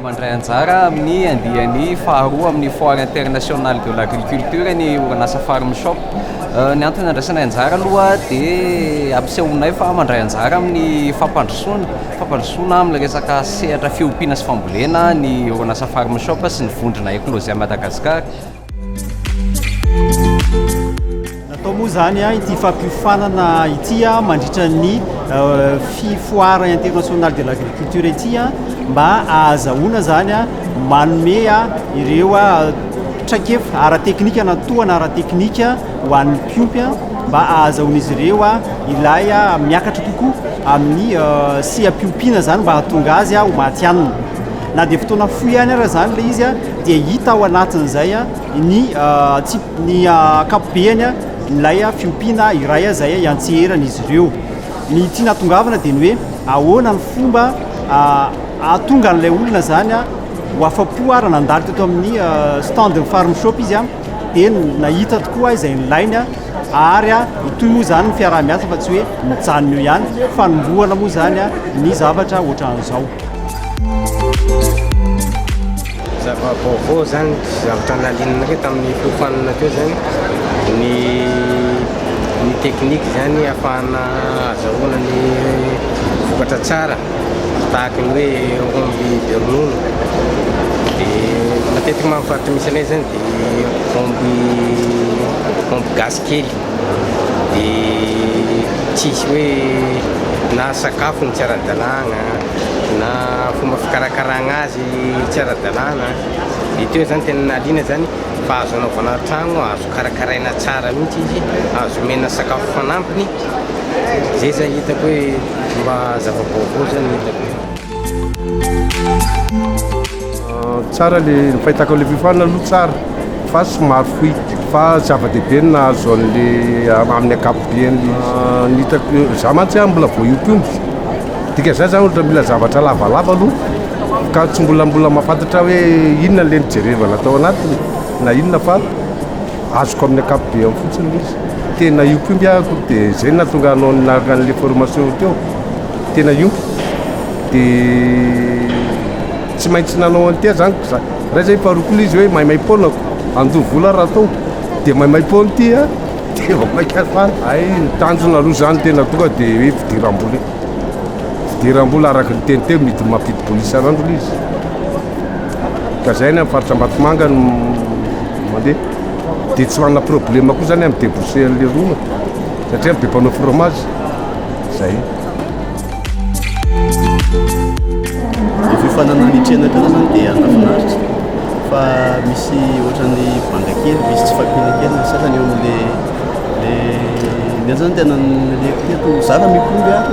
Mandray anjara amin'ny andiany faharoa amin'ny Foire Internationale de l'Agriculture ny orinasa Farm Shop. Ny antony andraisanay anjara aloha dia ampisehoanay fa mandray anjara amin'ny fampandrosoana, fampandrosoana amin'ny resaka sehatra fiompiana sy fambolena ny orinasa Farm Shop sy ny vondrona Eclosia Madagascar. Natao moa izany ity fampiofanana ity mandritra ny fifoara international de l'agriculture ity mba ahazahoana izany manome ireo traikefa ara-teknika na tohana ara-teknika ho an'ny mpiompy mba ahazahoan'izy ireo ilay miakatra kokoa amin'ny seha-piompiana izany mba hahatonga azy ho matihanina. na dia fotoana fohy ihany ara izany ilay izy dia hita ao anatin'izay ny antsipy ny ankapobeany ilay fiompiana iray izay iantseherana izy ireo ny tiana atongavana dia ny hoe ahoana ny fomba ahatonga an'ilay olona izany ho afa-po ara nandalo teto amin'ny standn'ny farm shop izy a Eny, nahita tokoa aho izay nilainy ary itoy moa izany ny fiaraha-miasa fa tsy hoe mijanona eo ihany, fanombohana moa izany ny zavatra ohatran'izao. Zava-baovao izany sy zavatra nahaliananareo tamin'ny fiofanana teo izany ny ny teknika izany ahafahana azahoana ny vokatra tsara. Tahaka ny hoe omby be ronono, dia matetika moa amin'ny faritra misy anay izany dia omby omby gasy kely, dia tsisy hoe na sakafony tsy ara-dalàna na fomba fikarakarana azy tsy ara-dalàna, dia teo izany tena nahaliana izany fa azo anaovana trano, azo karakaraina tsara mihitsy izy, azo omena sakafo fanampiny, izay izany hitako hoe. Mba zava-baovao zay no hitako e. Tsara le, ny fahitako an'ilay fiofanana aloha tsara fa somary fohy fa zava-dehibe ny nahazo an'le amin'ny ankapobeany le izy. Ny hitako, za mantsy an mbola vao hiompiomby dika zany za ohatra mila zavatra lavalava aloha ka tsy mbola mbola mahafantatra hoe inona le nijerevana tao anatiny na inona fa Azoko amin'ny ankapobeany fotsiny ilay izy. Tena iompy iompy aho akory dia izay no nahatonga anao niaraka an'ilay formation teo. Tena iompy. Dia tsy maintsy nanao an'ity aho izany. Raiza i Paroky ilay izy hoe maimaim-poanako, handoa vola aho raha atao. Dia maimaim-poana ity a! Dia vao mainka hatsara. Hay ny tanjona aloha izany tena tonga dia hoe fidiram-bola e. Fidiram-bola araka ny teny teo miditra mampidi-bola isan'andro ilay izy. Ka izay any amin'ny faritra Ambatomanga no. Mandeha. Dia tsy manana problème koa zany amin'ny débouché an'ilay rona satria be mpanao fromage. Zay. Ny fifanana ny tsena teo zany dia nafinaritra fa misy ohatran'ny banga kely misy tsy fakiana kely ny sasany eo amin'ilay le le zany tena naleko teto zara mikomby ary.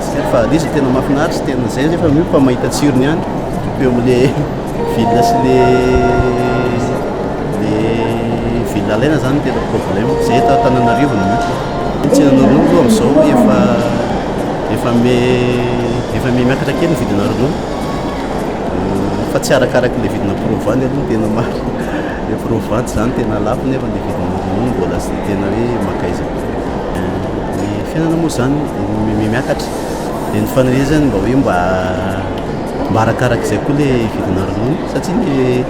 Tsiro fahadiso tena mafinaritra tena zay refa miopa fa mahita tsirony ihany eo amle ville sy le le ville alaina zany tena problème zay eto Antananarivo no misy ny tsinana ronono aloha amzao efa efa me efa me miakatra kely ny vidina ronono fa tsy arakaraky le vidina provoany aloha ny tena marina le provoany zany tena lafo nefa le vidina ronono mbola sy tena hoe maka aiza Ny fiainana moa izany miakatra, dia ny faniriana mba hoe mba mba arakarak'izay koa le vidina ronono satria ny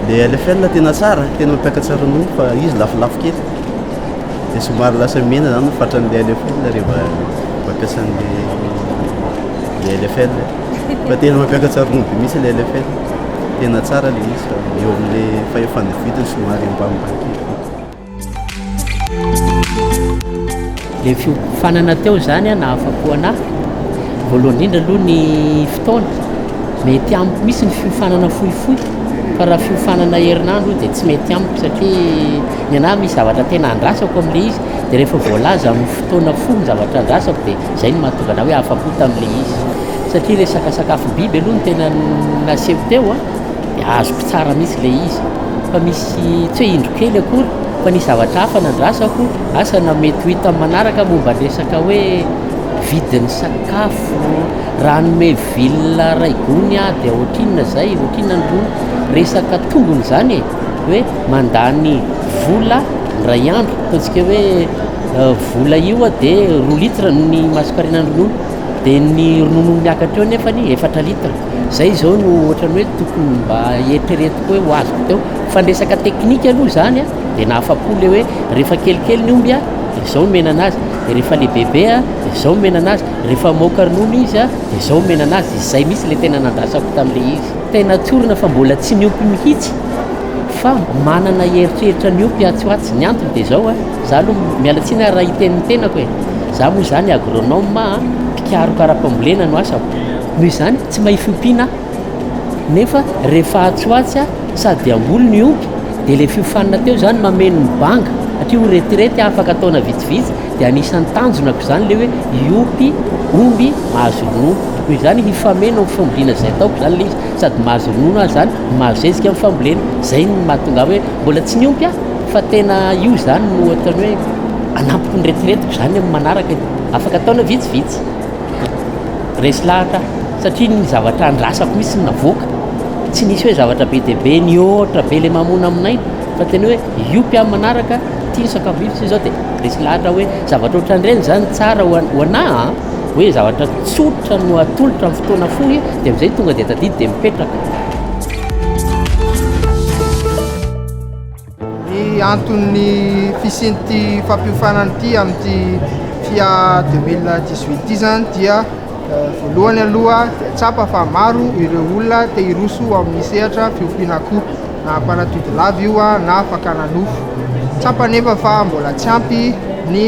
le LFL tena tsara, tena mampiakatra ronono fa izy lafolafo kely, dia somary lasa mena izany ny fatran'ilay LFL rehefa mampiasa an'le le LFL fa tena mampiakatra ronono be mihintsy le LFL, tena tsara le izy fa eo amin'le fahefana vidiny somary ambanimbany kely. Le fiofanana teo izany a nahafapo anahy voalohany indrindra aloha ny fotoana mety amiko misy ny fiofanana fohifohy fa raha fiofanana herinandro dia tsy mety amiko satria ny anahy misy zavatra tena andrasako amin'le izy dia rehefa voalaza amin'ny fotoana fohy ny zavatra andrasako dia izay no mahatonga anahy hoe afapo tamin'le izy satria resaka sakafom-biby aloha no tena nasehoko teo a dia azoko tsara mihitsy le izy fa misy Tsy hoe indro kely akory, fa nisy zavatra hafa nandrasako. Asa na mety ho hitan'ny manaraka momba ny resaka hoe vidin'ny sakafo, raha hanome ville iray gony aho dia ohatrinona izay, ohatrinona ny roa resaka tombony izany e? hoe mandany vola indray andro, ataontsika hoe vola io dia roa litre ny masonkarenan'ny ronono. Dia ny ronono miakatra eo nefa anie efatra litre, izay izao no ohatran'ny hoe tokony mba eritreretiko hoe ho azoko teo. Fa ny resaka teknika aloha izany dia nahafa-po ilay hoe rehefa kelikely ny omby dia izao no omena an'azy, dia rehefa lehibebe dia izao no omena an'azy, rehefa mamoaka ronono izy dia izao omena an'azy. Izay mihitsy ilay tena nandrasako tamin'ilay izy. Tena tsorina fa mbola tsy niompy mihitsy fa manana eritreritra ny omby atsy ho atsy. Ny antony dia izao. Za aloha miala tsiny ary raha hiteny ny tenako e! Za moa izany agronome a! Mpikaroka ara-pambolena no asako, noho izany tsy mahia fiompiana aho. Nefa rehefa atsy ho atsy a, sady dia hamboly no hiompy, dia ilay fiofanana teo izany mameno ny banga, satria ho retirety aho afaka taona vitsivitsy, dia anisan'ny tanjonako izany ilay hoe hiompy omby mahazo ronono. Noho izany hifameno amin'ny fambolena izay ataoko izany ilay izy, sady mahazo ronono aho izany, mahazo zezika amin'ny fambolena. Izay no mahatonga ahy hoe mbola tsy niompy aho. Fa tena io izany no ohatran'ny hoe anampiko ny retiretiko izany amin'ny manaraka e. Afaka taona vitsivitsy. Resy lahatra aho satria ny zavatra andrasako mihitsy no navoaka. Tsy nisy hoe zavatra be dia be nihoatra be ilay mamoana aminay fa tena hoe io mpiam manaraka ity ny sakafo vitsivitsy hoy izao dia resy lahatra aho hoe zavatra ohatran'ireny izany tsara ho an- ho anah an. Hoe zavatra tsotra no atolotra amin'ny fotoana fohy dia amin'izay tonga dia tadidy dia mipetraka. Ny anton'ny fisian'ity fampiofanana ity amin'ity FIA 2018 ity izany dia voalohany aloha dia tsapa fa maro ireo olona te hiroso amin'ny sehatra fiompiana akoho, na mpanatodi-lava io na fakana nofo. Tsapa anefa fa mbola tsy ampy ny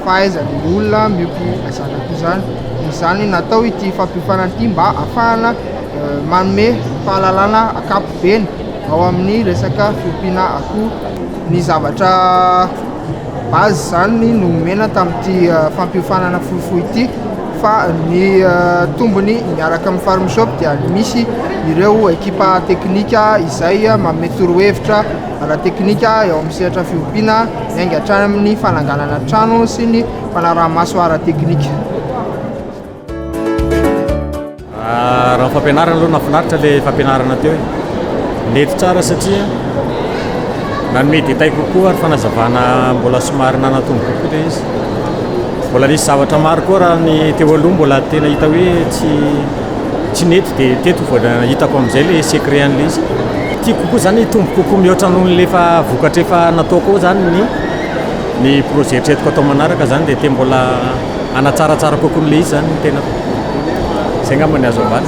fahaizan'ny olona miompy zanak'akoho izany. Noho izany natao ity fampiofanana ity mba hahafahana manome fahalalana ankapobeny. ao amin'ny resaka fiompiana akoho. Ny zavatra base izany no omena tamin'ity fampiofanana fohifohy ity fa ny tombony miaraka amin'ny Farm Shop dia misy ireo ekipa teknika izay manome torohevitra ara-teknika eo amin'ny sehatra fiompiana miainga hatrany amin'ny fananganana trano sy ny fanaraha-maso ara-teknika. Raha ny fampianarana aloha nafinaritra ilay fampianarana teo e. Nety tsara satria nanome détail kokoa ary fanazavana mbola somary nanatombo kokoa ilay izy. Mbola nisy zavatra maro koa raha ny teo aloha mbola tena hita hoe tsy tsy nety dia teto vao hitako amin'izay ilay secret an'ilay izy. Tiako kokoa izany hitombo kokoa mihoatra noho ny efa vokatra efa nataoko ao izany ny ny projet eritreretiko atao manaraka izany dia te mbola Hanatsaratsara kokoa an'ilay izy izany ny tenako. Izay angamba ny azo ambara.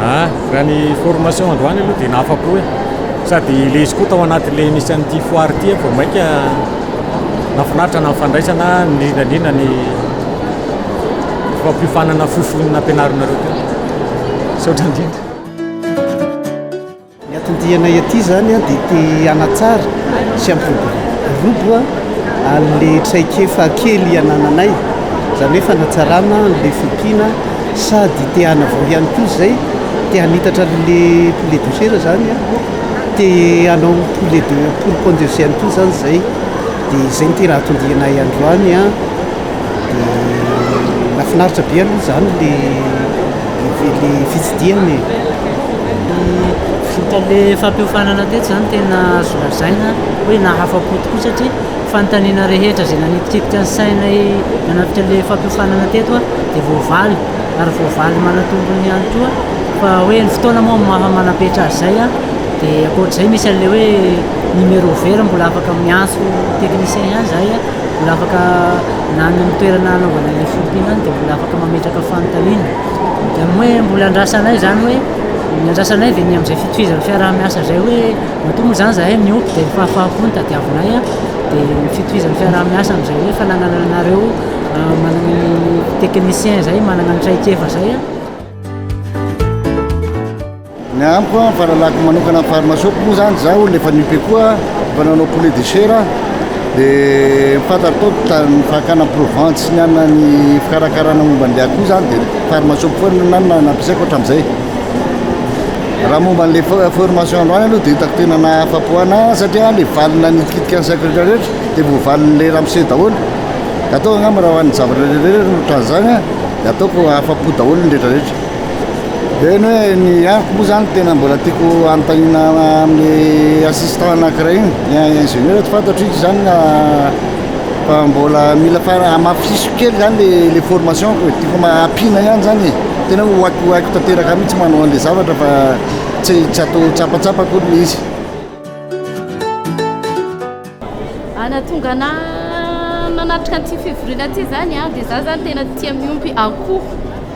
Ah, raha ny formation androany aloha dia nahafa-po e! Sady ilay izy koa tao anatin'ilay nisy an'ity foire ity vao mainka nahafinaritra na ny fandraisana, indrindra indrindra ny fampiofanana fohifohy nampianarinareo teo. Misaotra indrindra. Ny anton-dianay aty izany dia te hanatsara sy hampiroborobo an'ilay traikefa kely anananay, izany hoe fanatsarana an'ilay fiompiana sady te hanavoa ihany koa izay, te hanitatra an'ilay poulet de chair izany, te hanao poulet de poule pondeuse ihany koa izany izay, dia izay no tena anton-dianay androany an, dia nahafinaritra be aloha izany ilay. Kely fitsidihana e! Ny vokaly fampiofanana teto izany tena azo lazaina hoe nahafa-po tokoa satria fanontaniana rehetra izay nanitikitika ny sainay nanapika an'ilay fampiofanana teto dia voavaly ary voavaly manatombony ihany koa fa hoe ny fotoana moa no maha manapetra azy izay an! dia ankoatr'izay misy an'ilay hoe numéro vert mbola afaka miantso technicien ihany izahay an! Mbola afaka, na ny amin'ny toerana hanaovana ilay fourpine any dia mbola afaka mametraka fanontaniana. Dia ny hoe mbola andrasanay izany hoe, ny andrasanay dia ny amin'izay fitovizan'ny fiaraha-miasa izay hoe, matoa moa izany izahay miompy dia ny fahafaham-po no tadiavinay an, dia ny fitovizan'ny fiaraha-miasa amin'izay hoe fananana anareo manana ny techniciens izay manana ny traikefa izay an. Ny amiko an, fahalalako manokana ny farmasoako moa zany, za olona efa nipe koa, efa nanao poulet de chair aho, de fantatro tao ny fakana ny provente sy ny anona ny fikarakarana momba an'le akoho zany de farmasoako foana no nanona no ampiasaiko hatram'izay. Raha momba an'le formation androany aloha de hitako tena nahafapo ana satria le valiny nanitikitiky ny saiko rehetra rehetra de voavalin'le ramose daholo, de ataoko angamba raha ho an'ny zavatra rehetra rehetra ohatran'izany an de ataoko afapo daholo ny rehetra rehetra. Dia ny hoe ny amiko moa zany tena mbola tiako anontaniana amin'ny assistant anankiray iny. Ny ingénieur tsy fantatro izy zany na fa mbola mila fa amafisiso kely zany le le formation ko e. Tiako ampiana ihany zany e. Tena hoe ho haiko ho haiko tanteraka mihitsy manao an'le zavatra fa tsy tsy atao tsapatsapa akory le izy. Ah, nahatonga anah nanatrika an'ity fivoriana ity zany an, dia zah zany tena tia miompy akoho,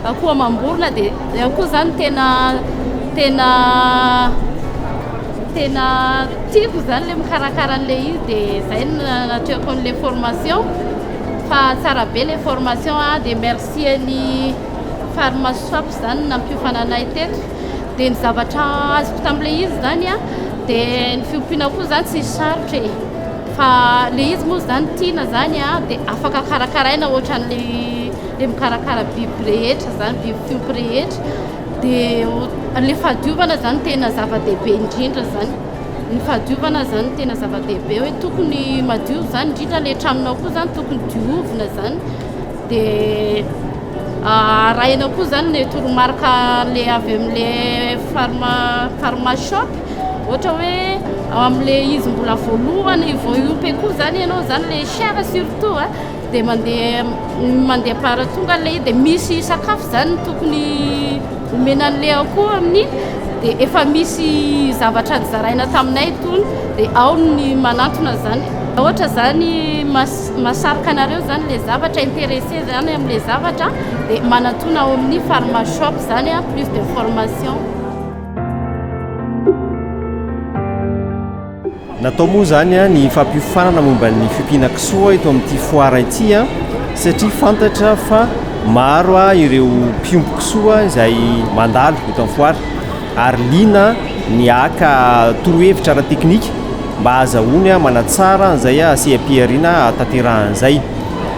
akoho amam-borona, dia le akoho zany tena tena tena tiako zany le mikarakara an'le izy, dia zay no nanatrehako an'le formation, fa tsara be le formation an, dia merci an'i Farmasoap zany nampiofana anay teto. dia ny zavatra azoko tamin'ilay izy zany a dia ny fiompiana koa zany tsy sarotra e fa le izy moa zany tiana zany a dia afaka karakaraina ohatran'le le mikarakara biby rehetra zany biby fiompy rehetra dia le fahadiovana zany tena zava-dehibe indrindra zany ny fahadiovana zany tena zava-dehibe hoe tokony madio zany indrindra le tranonao koa zany tokony diovina zany Dia arahina koa izany ilay toromarika ilay avy amin'ilay pharma pharma shop, ohatra hoe ao amin'ilay izy mbola voalohany vao hiompy akoho izany ianao izany, ilay chère surtout a, dia mandeha mandeha par tonga ilay izy, dia misy sakafo izany tokony omena an'ilay akoho amin'iny, dia efa misy zavatra nozaraina taminay itony, dia ao ny manantona izany. Ohatra izany mas Mahasarika anareo zany le zavatra, interesse zany am le zavatra de manatona ao amin'ny pharma shop zany a plus de formation. Natao moa izany ny fampiofanana momba ny fiompiana kisoa eto amin'ity foara ity satria fantatra fa maro ireo mpiompy kisoa izay mandalo eto amin'ny foara. ary liana ny haka torohevitra ara-teknika mba hahazahoany manatsara an'izay seha-pihariana hahatanterahany izay.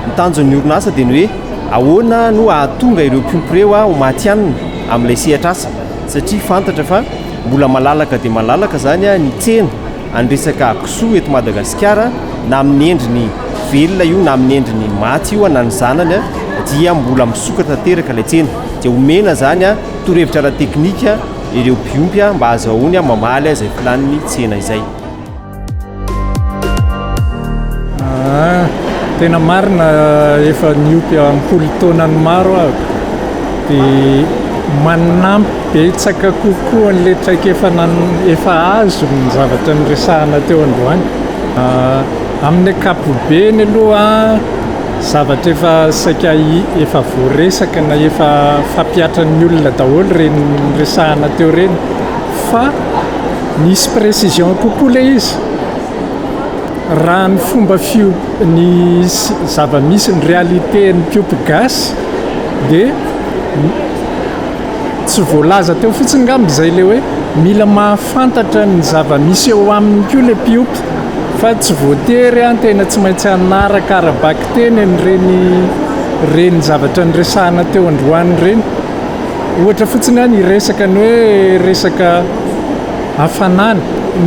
Ny tanjon'ny orinasa dia ny hoe ahoana no hahatonga ireo mpiompy ireo ho matihanina amin'ilay sehatr'asa satria fantatra fa mbola malalaka dia malalaka izany ny tsena an'ny resaka kisoa eto Madagasikara na amin'ny endriny velona io na amin'ny endriny maty io na ny zanany dia mbola misokatra tanteraka ilay tsena dia omena izany Torohevitra ara-teknika ireo mpiompy mba hazahoany mamaly izay filan'ny tsena izay. Tena marina efa niompy ampolo taonany maro aho dia manampy betsaka kokoa an'ilay traikefa efa azo ny zavatra niresahana teo androany. Amin'ny ankapobeny aloha Zavatra efa saika efa voaresaka na efa fampihatran'ny olona daholo ireny resahana teo ireny fa misy précision kokoa ilay izy, raha ny fomba fiomp- ny zava-misy ny réalités-n'ny mpiompy gasy dia tsy voalaza teo fotsiny angamba izay ilay hoe mila mahafantatra ny zava-misy eo aminy koa ilay mpiompy. Fa tsy voatery an, tena tsy maintsy hanaraka ara-bakiteny an'ireny ireny zavatra niresahana teo androany ireny. Ohatra fotsiny an, hiresaka ny hoe resaka hafanana.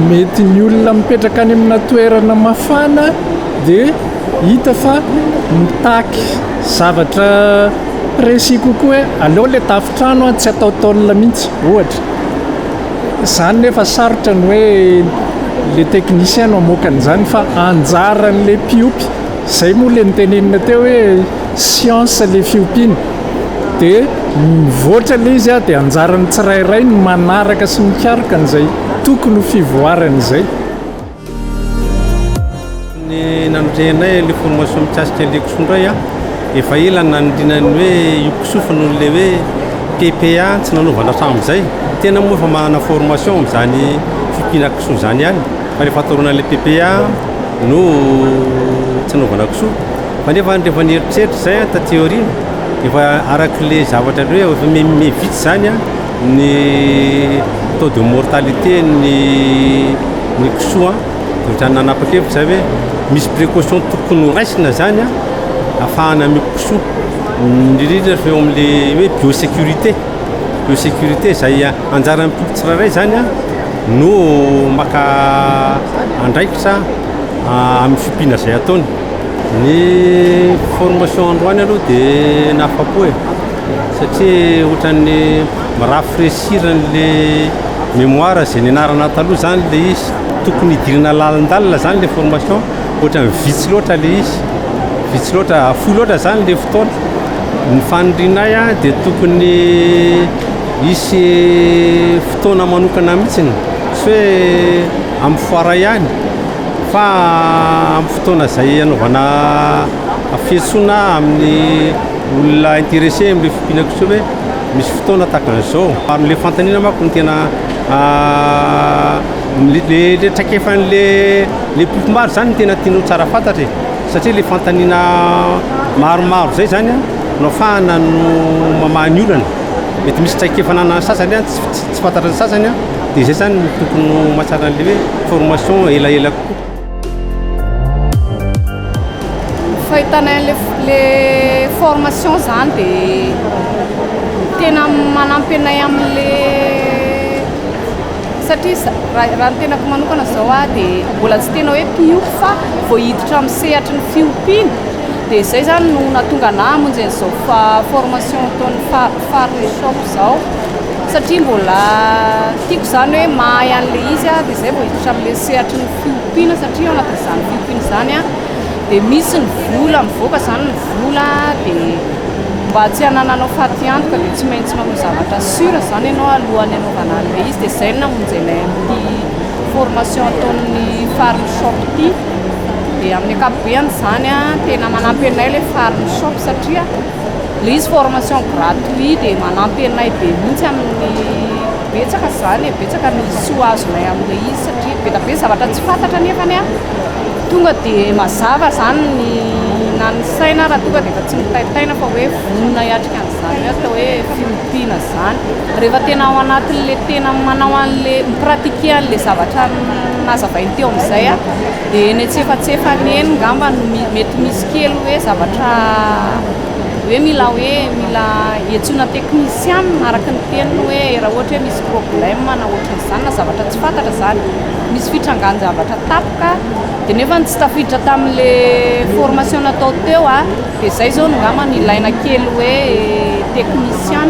Mety ny olona mipetraka any amina toerana mafana dia hita fa mitaky zavatra précis kokoa hoe aleo ilay tafo-trano an, tsy ataotaolona mihitsy, ohatra. Izany nefa sarotra ny hoe le technicien no hamoaka an'izany fa anjaran'le mpiompy, izay moa le notenenina teo hoe science le fiompiana de mivoatra le izy dia anjaran'ny tsirairay ny manaraka sy mikaroka an'izay tokony ho fivoarany izay. Ny nandrehanay ilay formation mikasika ilay kisoa indray a, efa ela no nanindriana ny hoe io kisoa fa noho ilay hoe PPA tsy nanaovana hatramin'izay. Tena moa efa manana formation amin'izany fiompiana kisoa izany ihany fa rehefa toroana ilay PPA no tsy nanaovana kisoa. Fa nefa rehefa nieritreritra izay taty aoriana, efa arak'ilay zavatra hoe efa miha miha vitsy izany a. Ny taux de mortalité ny ny kisoa dia ohatran'ny nanapa-kevitra zay hoe misy précaution tokony ho raisina zany afahana miompy kisoa indrindra fa eo amin'le hoe biosécurité biosécurité zay anjaran'ny mpiompy tsirairay zany no maka andraikitra amin'ny fiompiana zay ataony. Ny formation androany aloha dia nahafapo e. satria ohatran'ny mi-rafraîchir an'le mémoire izay nianarana taloha zany le izy, tokony hidirana lalindalina zany le formation, ohatran'ny vitsy loatra le izy, vitsy loatra, fohy loatra zany le fotoana, ny fanirianay a de tokony hisy fotoana manokana mihitsiny, tsy hoe amin'ny foara ihany fa amin'ny fotoana izay hanaovana fiantsoana amin'ny. olona intéressé amin'ireo fiompiana kosa hoe misy fotoana tahaka an'izao, ary ilay fanontaniana manko no tena ilay traikefan'ilay mpifimbary izany no tena tianao tsara fantatra e, satria ilay fanontaniana maromaro izay izany no ahafahana mamaha ny olana, mety misy traikefa ananan'ny sasany any tsy fantatry ny sasany dia izay izany no tokony ho mahatsara an'ilay hoe formation elaela kokoa. Fahitana an'le le formation zany de tena manampy anay amin'le satria za- raha raha ny tenako manokana zao a de mbola tsy tena hoe mpiompy fa vao hiditra amin'ny sehatry ny fiompiana de zay zany no nahatonga anah hamonjy an'zao fa- formation ataon'ny fa- Faritra Shop zao satria mbola tiako izany hoe mahay an'ilay izy aho dia izay vao hiditra amin'ilay sehatry ny fiompiana satria ao anatin'izany fiompiana izany aho dia misy ny vola mivoaka izany ny vola dia mba tsy hanananao fatiantoka dia tsy maintsy manao zavatra sûr izany ianao alohan'ny hanaovana an'ilay izy dia izay no namonjenay an'ity formation ataon'ny Farm Shop ity dia amin'ny ankapobeny izany an tena manampy anay ilay Farm Shop satria Ilay formation gratuit dia manampy anay be mihitsy amin'ny betsaka izany e, betsaka ny soa azonay amin'ilay izy satria be dia be ny zavatra tsy fantatra nefany an, tonga dia mazava izany ny na ny saina ary tonga dia efa tsy mitaitaina fa hoe vonona hiatrika an'izany hoe atao hoe fiompiana izany. Rehefa tena ao anatin'ilay tena manao an'ilay mi-pratiquer an'ilay zavatra nazavainy teo amin'izay an. Dia eny antsefatsefany eny ngamba no mety misy kely hoe zavatra hoe mila hoe mila iantsoana technician araka ny feniny hoe raha ohatra hoe misy problème na ohatran'izany izany na zavatra tsy fantatra izany, misy fitrangan-javatra tapoka dia nefa ny tsy tafiditra tamin'ilay formation natao teo a, dia izay izao no ngamba no ilaina kely hoe technician.